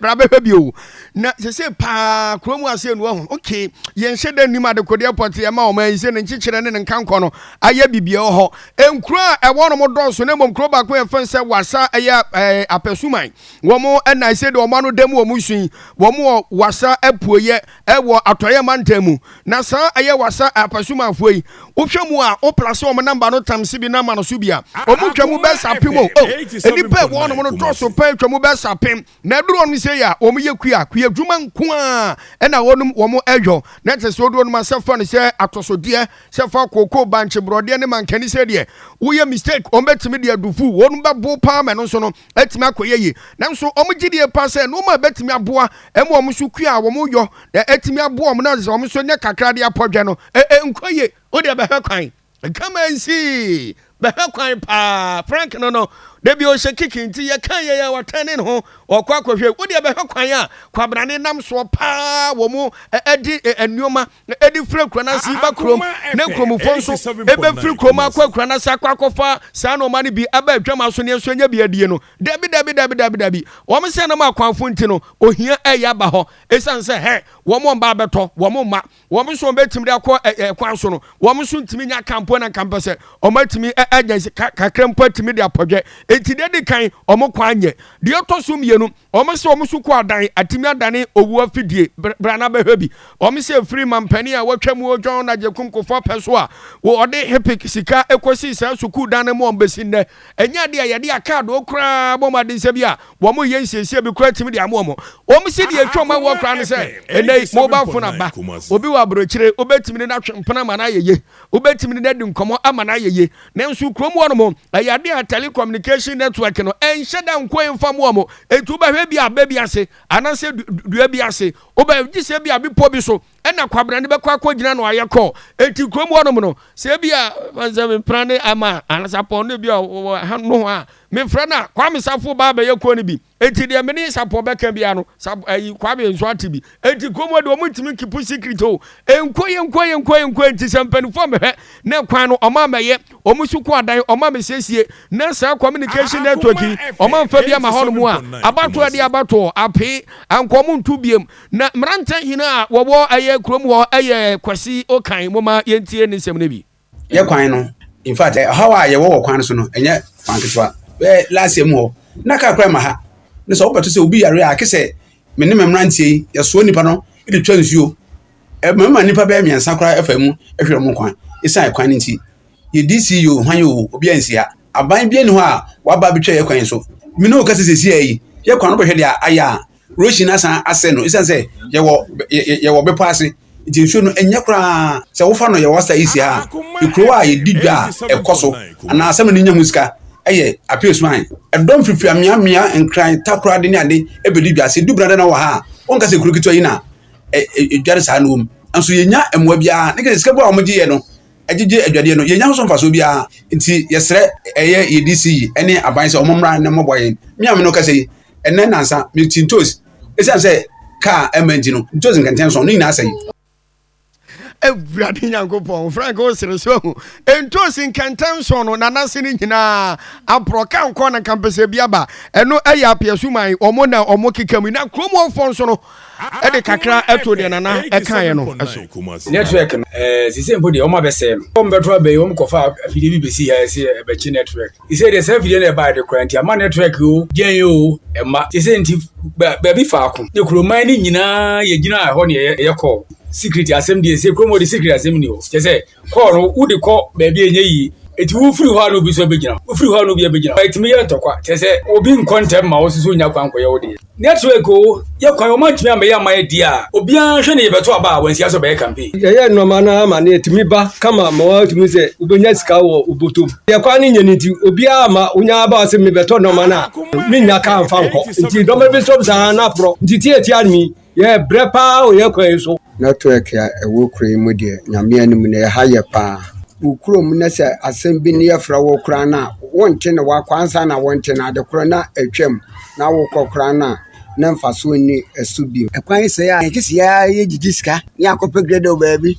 bra bɛhwɛ bio na sese paa kuro mu ase enu ɔho okay yɛn hyɛ dɛ nim adekodeɛ pɔte ɛma ɔman yi sɛ ne nkyekyerɛ ne ne nkankɔ no ayɛ bibia ɔhɔ nkuro a ɛwɔ no mo dɔɔso na mmom kuro baako yɛ fɛn sɛ wasa ɛyɛ ɛɛ apɛsuman wɔn ɛna ɛsɛ de wɔn ano dɛm wɔn nsu yi wɔn wɔ wasa apuoyɛ wɔ Atɔeɛ mantam mu, na saa ɛyɛ wasa Apasumanfoɔ yi, wohwɛ mu a, wo plase wɔn number no tam se bi na ma no so bi a, wɔn twa mu bɛs apem o, oh, nnipa ɛwɔ hɔnom no dɔɔso paa ɛtwa mu bɛs apem, na ɛduru hɔnom sei a, wɔn yɛ kua, kua adwuma nko ara na wɔnom wɔn ɛyɔ, na ɛte sɛ wodeɛ wɔnom asɛ fa no sɛ atosodeɛ, sɛ fa kookoo, bankye, brɔdeɛ ne mankani sɛ deɛ, woyɛ mistake, wɔn bɛtumi de adufu, wɔnom bɛbo paa ma ɛno nso no, atumi akɔyɛ yie. Nanso wɔn gyedie paa sɛ nnoɔma a ɛbɛtumi aboa ma wɔn nso kua a wɔyɔ na atumi aboa wɔn na wɔn nso nya kakra de apɔ dwɛ no, ɛnkɔ yie. Wo deɛ bɛhwɛ kwan. Come and see! Bɛhwɛ kwan paa. Frank no no, da bi ɔhyɛ kiki nti yɛkaa yei a ɔtɛne ne ho ɔkɔ akɔhwɛ. Wo deɛ bɛhwɛ kwan a Kwabrane nam soɔ paa wɔn de nnoɔma na ɛde firi akuraa no ase ba kurom, na nkuromfoɔ nso ɛbɛfiri kurom akɔ akuraa no ase akɔ akɔfa saa nnoɔma no bi aba adwama so ne nso anya bi adie no, dabi, dabi, dabi, dabi, dabi, wɔn sɛ nam akwanfo nti no, ohia ɛyɛ aba hɔ, ɛsiane sɛ hɛ, wɔn wɔn ba abɛtɔ, wɔn mma, wɔn nso wɔn bɛtumi de akɔ ɛkwan so no, wɔn nso ntumi nya kampo na nkampɛ sɛ wɔn atumi anya kakra mpo atumi de apɔdwɛ, enti deɛ di kan wɔn kwan nyɛ, deɛ ɛtɔ so mmienu, Wɔn se wɔn sukuu adan atumi adane owu afidie. Bra na bɛhwɛ bi. Wɔn se firi mampanin a wɔatwa mu o John Agyekum Kufuor pɛ so a wɔde HPIC sika kɔsii saa sukuu dan no mu a bɛsi nnɛ ɛnyɛ adeɛ a yɛde akaadoo koraa bɔ mu adensɛ bi a wɔn reyɛ nsiesie bi koraa tumi de ama wɔn. Wɔn se deɛ ɛtwa wɔn awoɔ koraa ne sɛ ɛnnɛ yi mobile phone aba. Obi wɔ aburokyire wobɛtumi ne no atwe mpena ma no ayɛ yie. Wobɛtumi ne no adi nkɔmmɔ ama no ayɛ yie. Nanso kurom hɔ nom, ɛyɛ adeɛ a telecommunication network no ɛnhyɛ da nkɔ mfa mmoa mo. Enti wobɛhwɛ bi a abɛ bi ase anaasɛ dua bi ase. Wobɛ gye sɛ bi a bepɔ bi so ɛna kwabena no bɛkɔ akɔgyina no ayɛ kɔɔ. Enti kurom hɔ nom no, sɛ bi a sɛ mepra ne ama anaasɛ apɔn no bi a wɔ ha noho a, mefrɛ no a, Kwame Safo baa bɛyɛ kɔɔ no bi. Enti deɛ me ne Sapɔ bɛka biara no, Sapɔ ayi Kwame nso ate bi. Enti kurom hɔ deɛ wɔn ntumi nkipu secret o. Nkɔ yɛ nkɔ yɛ nkɔ yɛ nkɔ yɛ nti sɛ mpanimfoɔ mehwɛ na kwan no wɔn a mɛyɛ wɔn so kɔ adan wɔn a mesiesie na saa communication network yi wɔn a nfa bi ama hɔ nom a abatoɔ deɛ abatoɔ apee anka wɔn nto biem na mmeranteɛ hene a wɔwɔ ɛyɛ kurom hɔ ɛyɛ kwasi okan mo ma yɛntie ne nsɛm no bi. yɛ kwan no in fact ɔhaw a yɛwɔ wɔ kwan no so no ɛnyɛ kwan ketewa bɛyɛ last year mu hɔ na kaa kora ma ha ne sɛ wobɛto sɛ obi yare a ake sɛ me ne me mmeranteɛ yi yɛsoɔ nipa no de twa nsuo ɛmama nipa bɛyɛ mmiɛnsa koraa ɛfa mu ɛhwɛ wɔn kwan ɛsiane kwan no nti yɛdi si yɛ o hwan yɛ o obi ansi ha aban bi ani hɔ a waba abɛtwa yɛ kwan so mene o kasa sɛsi ayi yɛ kwan no bɛhwɛ deɛ ayɛ a Roshi no asan asɛe no ɛsiane sɛ yɛwɔ yɛwɔ bepɔ ase nti nsuo no ɛnyɛ koraa sɛ wofa no yɛwɔ asa isi a ekuro a yɛdi dwa a ɛkɔ so anaa asɛm no nya ho sika ɛyɛ apio suan ɛdɔm fifiri ameamea nkran takorade ne ade ɛbɛdi dwa sɛ dubena dana wɔ ha a wɔnka sɛ ekuro ketewa yi na ɛdware saa no wɔm nso yɛnya mmoa biara ne kɛ sika bu a wɔgye yɛ no ɛgyegye adwadeɛ no yɛnya ho so mfasoɔ biara nti yɛsrɛ ɛyɛ yɛdi si yi ɛne aban sɛ wɔn mmra ne mmɔbɔ yɛn meame no kasa yi ɛnɛ nansa mete ntos ɛsiane sɛ kaa ɛma nti no ntos nkɛntɛn so no nyinaa sɛe awurade nyankopɔn frank wo sere so ahu ntos nkɛntɛn so no nanase no nyinaa aporɔ ka nkɔ na nkampɛsɛ bi aba ɛno ɛyɛ apeɛ so man ɔmo na ɔmo keka mu na kurom ɔfoɔ nso no ɛde kakra ɛto deɛ nana ɛkaeɛ no ɛso network no ɛɛ sise mpo deɛ ɔmo abɛsɛɛ no ɔmo bɛto abɛyi ɔmo kɔfa afidie bi bɛsi ha ɛsɛ ɛbɛkye network Sɛ deɛ saa afidie no ɛbaeɛ de koraa nti ama network o gyɛn o ɛma te sɛ nti baabi faako ne kuroman no nyinaa yɛgyina ɛhɔ ne ɛyɛ kɔɔ secret asɛm deɛ sɛ kurom de secret asɛm ni hɔ kyɛ sɛ kɔɔ no wode kɔ baabi ɛnyɛ yie ɛti wofiri hɔ a na obi nso abɛgyina wofiri hɔ a na obi abɛgyina ɛtumi yɛ ntɔkwa kyɛ sɛ obi nkɔ ntɛm ma wo nso so nya kwan kɔyɛ wo deɛ Network o, yɛ kwan o, wɔantumi ammɛyɛ amma yɛadi a, obiara nhwɛ ne yɛbɛto aba a wansi ase ɔbɛyɛ campaign. Yɛyɛ nnoɔma no ara ma no ɛtumi ba kama ma wɔatumi sɛ wobɛnya sika wɔ wo bɔtɔm. Deɛ kwan no nyɛ no nti, obiara amma wonya aba ɔse mebɛtɔ nnoɔma no a mennya car mfa nkɔ. Nti nnoɔma bi nso saa na aporɔ. Nti tiatia no yi, yɛ brɛ paa wɔ yɛ kwan yi so. Network a ɛwɔ kuro yi mu deɛ Nyame anim no ɛha yɛ paa. Wo kuro mu na sɛ asɛm bi ne yɛfrɛ wo koraa no a wonte no wakɔ ansa na wonte no adekorɔ na atwam. na wokɔ koraa no a, na mfasoɔ nni ɛso bio. Ɛkwan sɛɛ a, yɛte sɛ yɛgyegye sika ne yɛakɔpɛ gradle baabi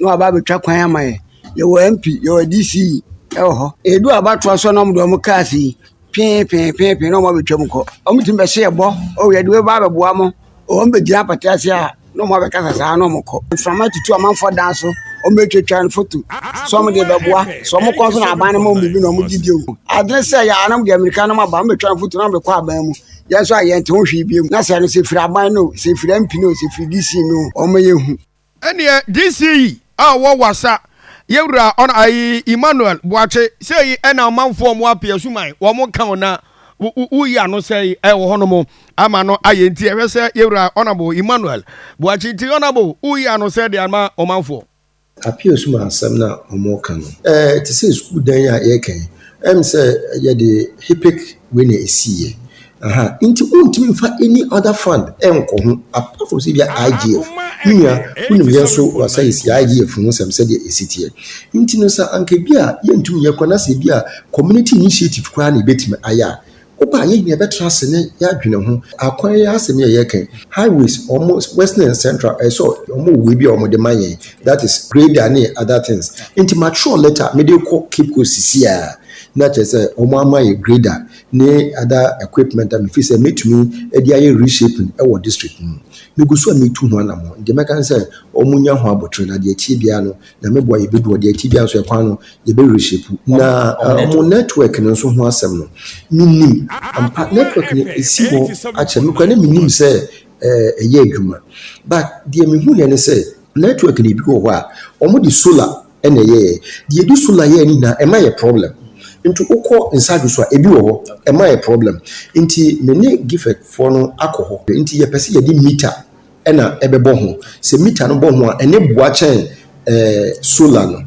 na wɔaba abɛtwa kwan ama yɛn. Yɛwɔ MP, yɛwɔ DC wɔ hɔ. Ɛduru abatoɔ so a na wɔde wɔn cars yi pee pee pee pee na wɔabɛtwam kɔ. Wɔtumi bɛhyɛ yɛn bɔ, o yɛde wei ba abɛboa mo. Wɔbɛgyina apata ase a na wɔabɛkasa saa na wɔkɔ. Mframa tutu amanfoɔ dan so, wɔbɛtwatwa no foto sɛ wɔde rebɛboa. Sɛ wɔkɔ nso na aban no ma wɔn biribi na wɔgye die o. Adwene sɛ yɛ a na wɔde mmirika nom aba, wɔbɛtwa no foto na wɔde kɔ aban mu. Yɛn nso a yɛnte ho hwee bio. Na sɛ ɛno sɛ ɛfiri aban no o, sɛ ɛfiri MP no o, sɛ ɛfiri DC no o, wɔma yɛhu. Ɛneɛ DC yi a ɔwɔ Wassa yɛwura ɔn ayi Emmanuel Boakye sɛyi ɛna amanfoɔ ɔmo ape asuman ɔmo ka ɔn na wo yi ano sɛyi ɛwɔ hɔ nom ama no ayɛ nti ɛhwɛ sɛ yɛwura Honourable Emmanuel Boakye nti Honourable wo yi ano sɛdeɛ ama ɔmanfoɔ ape asuman asɛm no a ɔmo ka no. Ɛɛ te sɛ sukuu dan yi a yɛreka yi, ɛm sɛ yɛde HIPC wei na ɛsiiɛ, Aha nti wontumi mfa any other fund nkɔ ho apart from sɛ ebia IGF. Me nua, wonim yɛn nso w'asa yɛsi IGF ho nsɛm sɛdeɛ ɛsi teɛ. Nti no sɛ anka bi a yɛntumi nyɛ koraa na sɛ bi a community initiative koraa na yɛbɛtumi ayɛ a, wo ba a yɛn nyinaa yɛbɛtra ase na yɛadwene ho. Akwan yi asɛm yi a yɛreka yi, highways, wɔn western and central, ɛyɛ sɛ wɔn wɔ wei bi a wɔn de ma yɛn, that is grader ne other things. Nti matwerɛ letter a mede rekɔ Cape Coast seesei ara na kyerɛ sɛ wɔn ama yɛn grader ne other equipment a mefiri sɛ mɛtumi de ayɛ reshaping wɔ district no mu. Megu so a metu ho anammɔn. Deɛ mɛka ne sɛ wɔnya ho abotire na deɛ ɛteɛ biara no Nyame boa yɛbɛdu hɔ. Deɛ ɛteɛ biara nso ɛkwan no yɛbɛ reshape. Na wɔn network no nso ho asɛm no mennim. Ampa network no ɛsi hɔ akyɛ. Me koraa na mennim sɛ ɛyɛ adwuma but deɛ mehuiɛ ne sɛ network no ɛbi wɔ hɔ a wɔde solar ɛna ɛyɛɛ deɛ ɛdi so na yɛɛ ne nyinaa ɛma yɛ problem nti wokɔ nsage so a ebi wɔ hɔ ɛma yɛ problem nti me ne gifɛk foɔ no akɔ hɔ nti yɛpɛ sɛ yɛde mita ɛna ɛbɛbɔ ho sɛ mita no bɔ ho a ɛne boa kyɛn ɛɛ solar no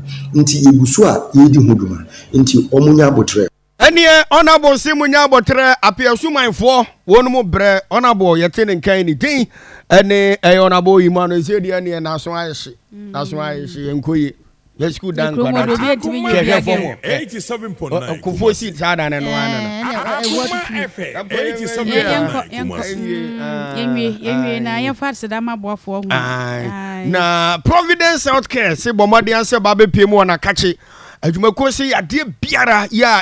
nti yɛgu so a yɛredi ho dwuma nti wɔn nyɛ aboterɛ. Ɛneɛ Honourable se monya abɔterɛ Apia Asumanfoɔ wɔn mu brɛ Honourable yɛte ne nkan ne din ɛne ɛyɛ Honourable Emmanuel ɛsɛ deɛ neɛ naso ayɛ hye naso ayɛ hye yɛn kɔ yie yɛ school dan nkwadaa ti hwɛhwɛ fam hɔ ɛ nkofoɔ si saa dan no noa nana na Providence Health Care se bɔ mmɔden sɛ ba bɛpie mu wɔn akakye adwumakuo se yadeɛ biara yɛ a